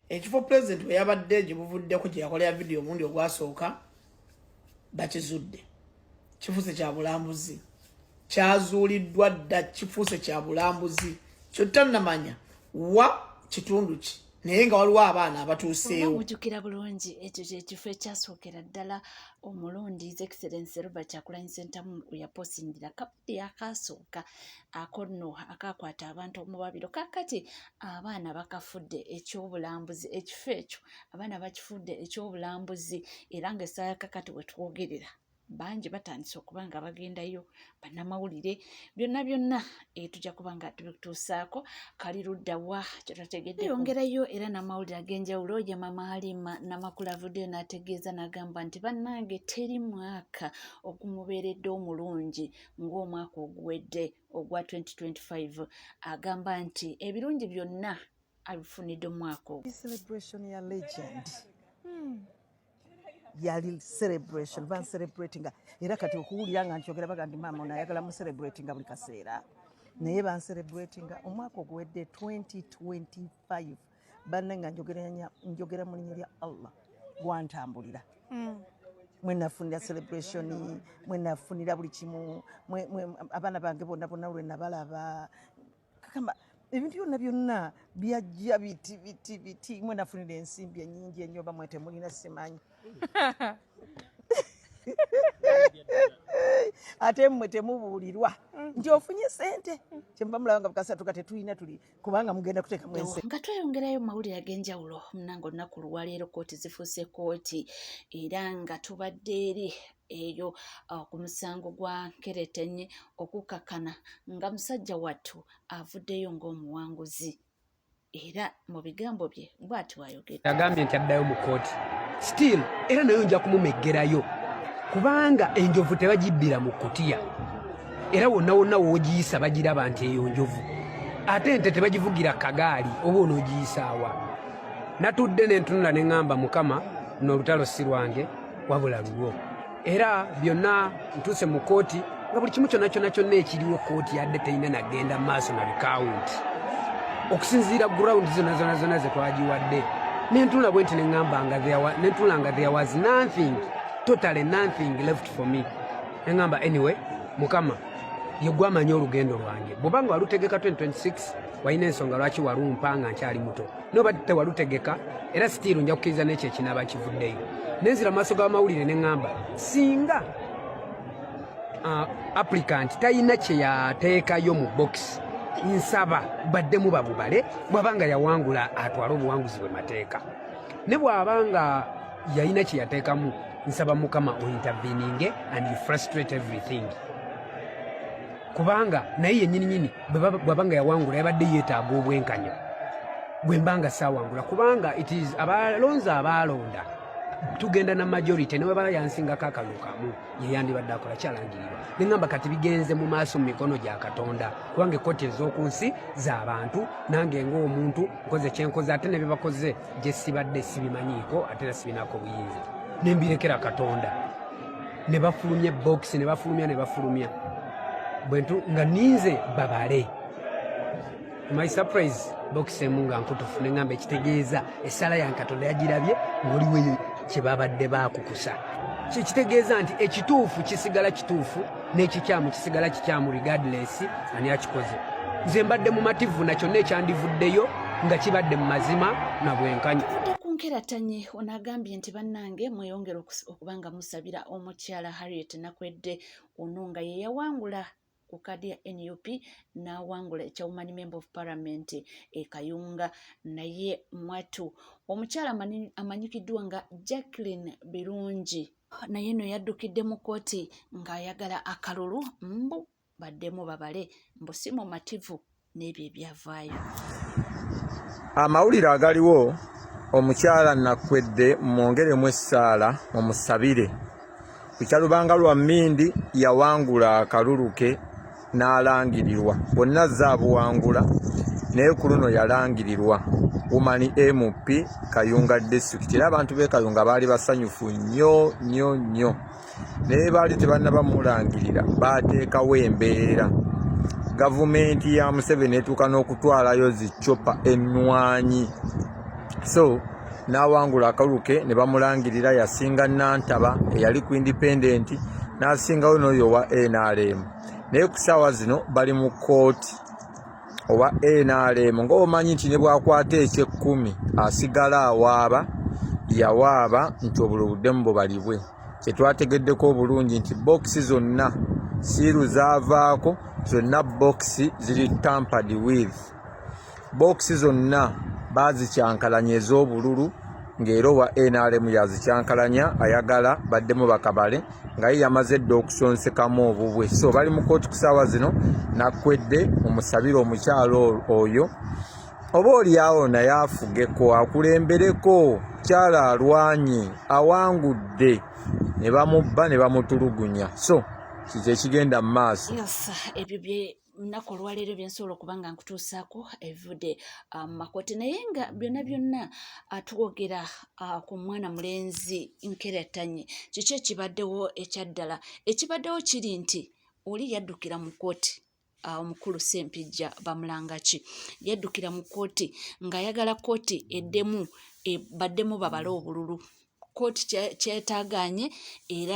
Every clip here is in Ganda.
ekifo pulezidenti we yabadde gye buvuddeko gye yakolera vidiyo omundi ogwasooka bakizudde kifuuse kya bulambuzi kyazuuliddwa dda kifuuse kya bulambuzi kyotannamanya wa kitundu ki naye nga waliwo abaana abatuuseewo mujukira bulungi ekyo kyekifo ekyasookera ddala omulundi his excellence robert kyakulanyi sentamu weyaposingira yakasooka ako nno akakwata abantu omubabiro kakati abaana bakafudde ekyobulambuzi ekifo ekyo abaana bakifudde ekyobulambuzi era nga esaala kakati wetwogerera bangi batandise okuba nga bagendayo bannamawulire byonna byonna etujja eh, kuba nga tubituusaako kali ludda wa kyetategedde yongerayo era n'amawulire ag'enjawulo ye mama alima namakula avuddeyo n'ategeeza n'agamba nti bannange teri mwaka ogumubeeredde omulungi ng'omwaka oguwedde ogwa 2025 agamba nti ebirungi byonna abifunidde omwaka ogwo celebration ya legend hmm. yali celebration ban celebratinga era kati okuwulira nga nkyogera baga ndi maama onayagala mu celebratinga buli kaseera naye ban celebratinga omwaka oguwedde 2025 banne nga njogera mu linya lya allah gwantambulira mm. mwenafunira celebration mwenafunira buli kimu abaana bange bonna bonna lwenabalaba kakamba ebintu byonna byonna byajja biti biti biti mwenafunira ensimbi enyingi enyo oba mwetemulina simanyi ate mmwe temubuulirwa nti ofunye sente kyemubamulaba nga bukasatu ka tetulina tuli kubanga mugenda kuteka mwensi nga tweyongerayo mawulire ag'enjawulo munange olunaku luwaleero kooti zifuuse kooti era nga tubadde eri eyo uh, ku musango gwa nkeretenye okukakkana nga musajja wattu avuddeyo ng'omuwanguzi era mu bigambo bye bwati wayogera yagambye nti addayo mu kooti still era nayo nja kumumeggerayo kubanga enjovu tebagibbira mu kutiya era wonna wonna woogiyisa bagiraba nti eyo njovu ate ente tebagivugira kagaali oba onoogiyisaawa natudde nentunula ne ŋŋamba mukama nolutalo si lwange wabula lulwo era byonna ntuuse mu kkooti nga buli kimu kyonna kyonna kyonna ekiriwo kkooti yadde terina nagenda maaso na bikawunti okusinziira gurawundi zona zona zona ze twagiwadde nentunula bwe nti neŋamba nga nentunula nga there was nothing totally nothing left for me neŋamba anyway mukama yegwe amanyi olugendo lwange bwobanga walutegeka 2026 walina ensonga lwaki walumpa nga nkyali muto nobadde tewalutegeka era sitiiru nja kukkiriza n'ekyo ekinaaba kivuddeyo nenzira mu maaso g'amawulire ne ŋŋamba singa uh, applicant talina kye yateekayo mu bokisi nsaba baddemu babubale bw'aba nga yawangula atwale obuwanguzi bwe mateeka ne bw'aba nga yalina kye yateekamu nsaba mukama ointerveninge and you frustrate everything kubanga naye yennyini nyini bwaba nga yawangula yabadde yeetaaga obwenkanya gwe mba nga saawangula kubanga it is abalonzi abaalonda tugenda na majority ne webala yansingako akalulu kamu yeyandibadde akola kyalangirirwa ne ŋamba kati bigenze mu maaso mu mikono gya katonda kubanga ekkooti ez'oku nsi z'abantu nange ng'omuntu nkoze kyenkoze ate ne bye bakoze gye sibadde sibimanyiiko ate era sibinaako buyinza ne mbirekera katonda ne bafulumya bokisi ne bafulumya ne bafulumya bwentu nga ninze babale my surprise bokisi emu nga nkutufu ne ŋamba ekitegeeza essala ya nkatonda yagirabye ngaoliweyo kye babadde bakukusa kyekitegeeza nti ekituufu kisigala kituufu n'ekikyamu kisigala kikyamu regardless ani akikoze nze mbadde mumativu na kyonna ekyandivuddeyo nga kibadde mu mazima na bwenkanya nkerattanye ono agambye nti bannange mweyongere kubanga musabira omukyala harriet nakwedde ono nga yeyawangula ku kaadi ya nup n'awangula ekya woman member of parliament e kayunga naye mwatu omukyala amanyikiddwa nga jacqueline birungi naye no yaddukidde mu kooti ng'ayagala akalulu mbu baddemu babale mbu si mumativu n'ebyo ebyavaayo amawulire agaliwo omukyala nakwedde mwongeremu essaala mumusabire ku kyalubanga lwa mmindi yawangula akalulu ke n'alangirirwa bonna zaabuwangula naye ku luno yalangirirwa woman mp kayunga district era abantu be kayunga baali basanyufu nnyo nnyo nnyo naye baali tebannaba mulangirira baateekawo embeera gavumenti ya museveni etuuka n'okutwalayo zicopa ennwanyi so n'awangula akaluke ne bamulangirira yasinga nantaba eyali ku indipendenti n'asingawo n'oyo owa nrm naye ku ssaawa zino bali mu kkooti owa nrm ngaomanyi nti nebwakwata ekyekkumi asigala awaaba yawaaba nti obulo buddemu bubalibwe kyetwategeddeko obulungi nti bokisi zonna siiru zavaako zonna bokisi ziri tampad with bokisi zonna bazikyankalanya ez'obululu ng'era owa nrm yazikyankalanya ayagala baddemu bakabale nga ye yamaze dda okusonsekamu obubwe so bali mu kooti ku saawa zino nakwedde omusabire omukyalo oyo oba olyawo naye afugeko akulembereko kyala alwanye awangudde ne bamubba ne bamutulugunya so kikyo ekigenda mu maaso lunaku olwaleero byensobola okuba nga nkutuusaako evude ah, mu makooti naye nga byonna byonna ah, twogera ah, ku mwana mulenzi nkeratanye kiki ekibaddewo ekyaddala ekibaddewo kiri nti oli yaddukira mu kooti omukulu sempijja bamulangaki yaddukira mu kooti ng'ayagala kooti eddemu e, baddemu babale obululu kkooti kyetaagaanye era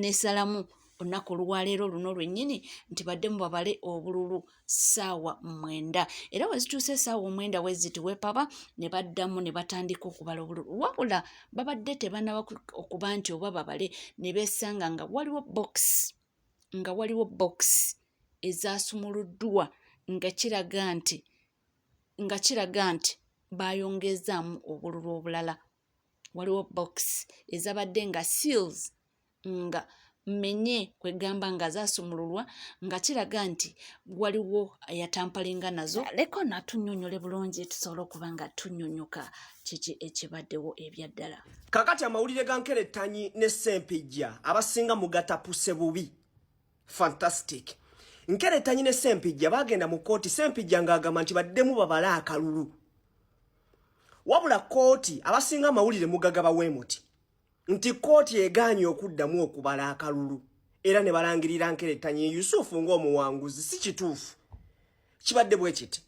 n'esalamu olunaku olwaleero luno lwennyini nti baddemu babale obululu ssaawa mwenda era wezituuse essaawa omwenda weziti wepaba ne baddamu ne batandika okubala obululu wabula babadde tebanaba okuba nti oba babale ne beesanga nga waliwo bokisi nga waliwo bokisi ezaasumuluddwa nga kiraga nti nga kiraga nti baayongeezaamu obululu obulala waliwo box ezabadde nga seals nga menye kwegamba nga zasumululwa nga kiraga nti waliwo yatampalinga nazo leko natunyonyole bulungi tusobola okuba nga tunyonyoka kiki ekibaddewo ebyaddala kakati amawulire ga nkerettanyi ne sempijja abasinga mugatapuse bubi fantastic nkeretanye ne sempijja bagenda mu kooti sempijja ng'agamba nti baddemu babale akalulu wabula kooti abasinga amawulire mugagaba weemuti nti kooti egaanye okuddamu okubala akalulu era ne balangirira nkeretanye yusufu ng'omuwanguzi si kituufu kibadde bwe kiti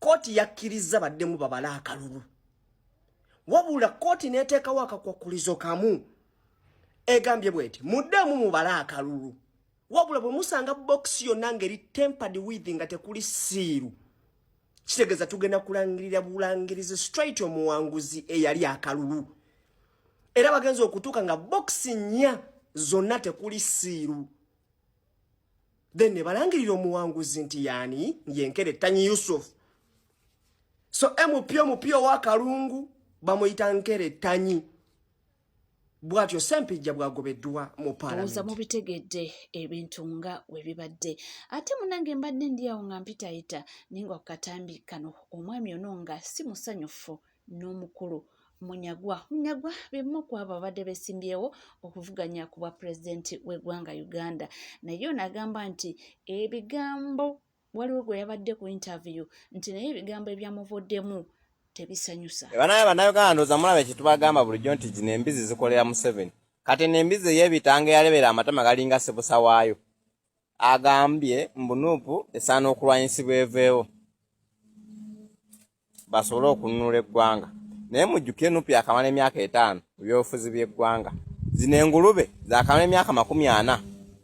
kooti yakkirizza baddemu babale akalulu wabula kooti n'eteekawo akakwakkulizo kamu egambye bweti muddemu mubale akalulu wabula bwe musanga bokisi yonna ngeri tempered with nga tekuli siiru kitegeeza tugenda kulangirira bulangirizi straight omuwanguzi eyali akalulu era bagenza okutuuka nga bokisi nnya zonna tekuli siiru then ne balangirira omuwanguzi nti yaani yenkere tanyi yusufu so mupyo mupyo wa kalungu bamuyita nkere tanyi bwatyo sempijja bwagobeddwa mu palamenti mubitegedde ebintu nga webibadde ate munange mbadde ndi awo nga mpitayita naye nga kukatambi kano omwami ono nga si musanyufu n'omukulu munyagwa munyagwa bemu ku abo abadde besimbyewo okuvuganya ku bwa pulezidenti w'eggwanga uganda naye ono agamba nti ebigambo waliwo gwe yabadde ku interview nti naye ebigambo ebyamuvuddemu tebisanyusa banaye bannayuganda ndoza mulaba ekyo tubagamba bulijjo nti gino embizi zikolera museveni kati eno embizi ey'ebitango eyalebera amatama galinga sibusa waayo agambye mbunuupu esaana okulwanyisibwa eveewo basobole okununula eggwanga naye mujjuke nup yakamala emyaka etaano mu byobufuzi by'eggwanga zino engulube zakamala emyaka makumi ana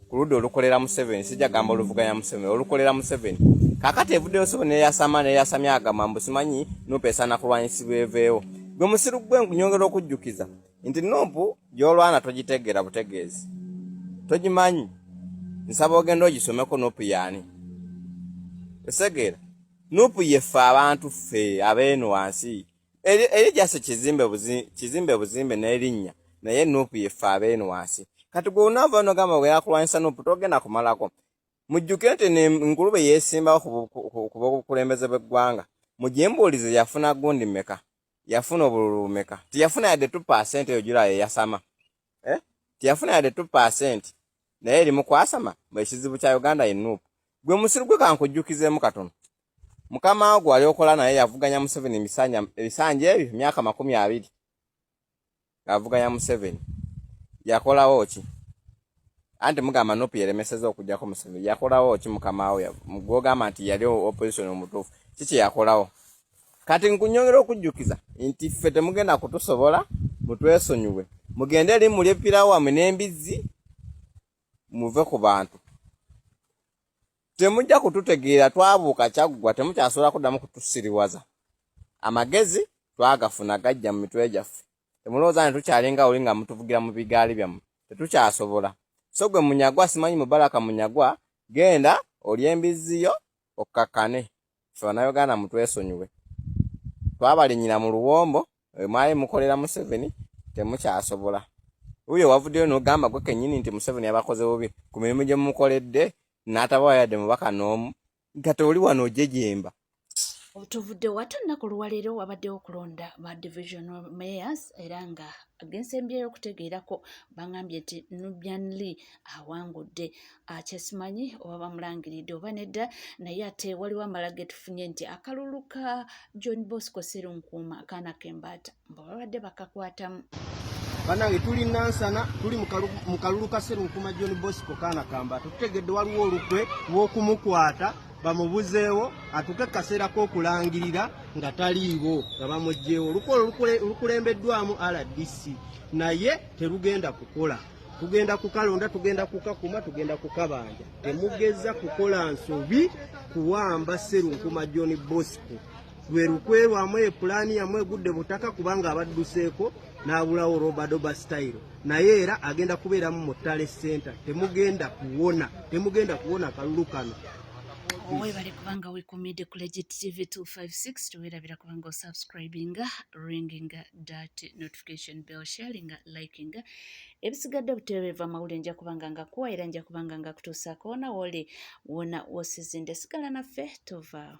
ku ludda olukolera museveni sijja gamba oluvuganya museveni olukolera museveni kakati evuddeyo sobo neyasama neyasamya agamba mbu simanyi nup esaana kulwanyisibwa eveewo gwe musiru gwe nkunyongera okujjukiza nti nup gyolwana togitegeera butegeezi togimanyi nsaba ogenda ogisomeko nup yaani esegeera Nupu yeffe abantu ffe abeeno wansi eri jase kizimbe buzi kizimbe buzimbe n'erinnya naye nupu yeffe abeeno wansi kati gwe unaava no gamba ogenda kulwanyisa nupu togenda kumalako mujjuke nti enkulube yeesimbawo ku bokulembeze bw'eggwanga mujimbuulize yafuna gundi meka yafuna obululu bumeka tiyafuna yadde tupa sente eyo jula yeyasama eh? teyafuna yadde 2 percent naye eri mukwasama ekizibu kya uganda ye nup gwe musiru gwe kankujjukizemu katono mukama wo gwali okola naye yavuganya museveni ebisanja ebyo emyaka makumi abiri ngavuganya museveni yakolawo ki anti mugamba nup yeremeseza okujjako museveni yakolawo ki mukama wo gwogamba nti yali opposition omutuufu kiki yakolawo Kati nkunyongera okujjukiza nti ffe temugenda kutusobola mutwesonyiwe mugende eri mulye pirawamwe n'embizzi muve ku bantu temujja kututegeera twabuuka kyaggwa temukyasobola kuddamu kutusiriwaza amagezi twagafuna gajja mu mitwe gyaffe temulowooza ne tukyalinga oli nga mutuvugira mu bigaali byammwe tetukyasobola so gwe munyagwa simanyi mubaraka munyagwa genda olya embizzi yo okkakkane ffe bannayuganda mutwesonyiwe twabalinyira mu luwombo mwali mukolera museveni temukyasobola wuyo wavuddeyo nogamba gwe kenyini nti museveni yabakoze bubi ku mirimu gye mumukoledde n'atabawa yadde mubaka n'omu nga tewoli wano ojejemba tuvudde wate olunaku olwaleero wabaddewo okulonda ba division mayors era nga agensembyeyo okutegeerako bangambye nti nubian lee awangudde akyesimanyi oba bamulangiridde oba nedda naye ate waliwo amala getufunye nti akalulu ka john bosco serunkuuma akaana kembaata mbu babadde bakakwatamu banange tuli nansana tuli mu kalulu ka serunkuuma john bosco kaana kambaata tutegedde waliwo olukwe lw'okumukwata bamubuzeewo atuke kaseera k'okulangirira nga taliiwo nga bamugyewo olukwe olukulembeddwamu rdc naye terugenda kukola tugenda kukalonda tugenda kukakuma tugenda kukabanja temugeza kukola nsobi kuwamba serunkuma john bosco lwe lukwe lwamu epulaani yamu egudde butaka kubanga abadduseeko n'abulawo robadoba style naye era agenda kubeeramu mu tale center temugenda kuwona temugenda kuwona kalulu kano webale kubanga wekumide ku legit tv 256 tewerabira kubanga osubscribinga ringinga dat notification bell sharinga likinga ebisigadde butereeva amawulire nja kubanga nga kuwa era nja kubanga nga kutuusaako wona wooli wona wosizinda esigala naffe tovaawo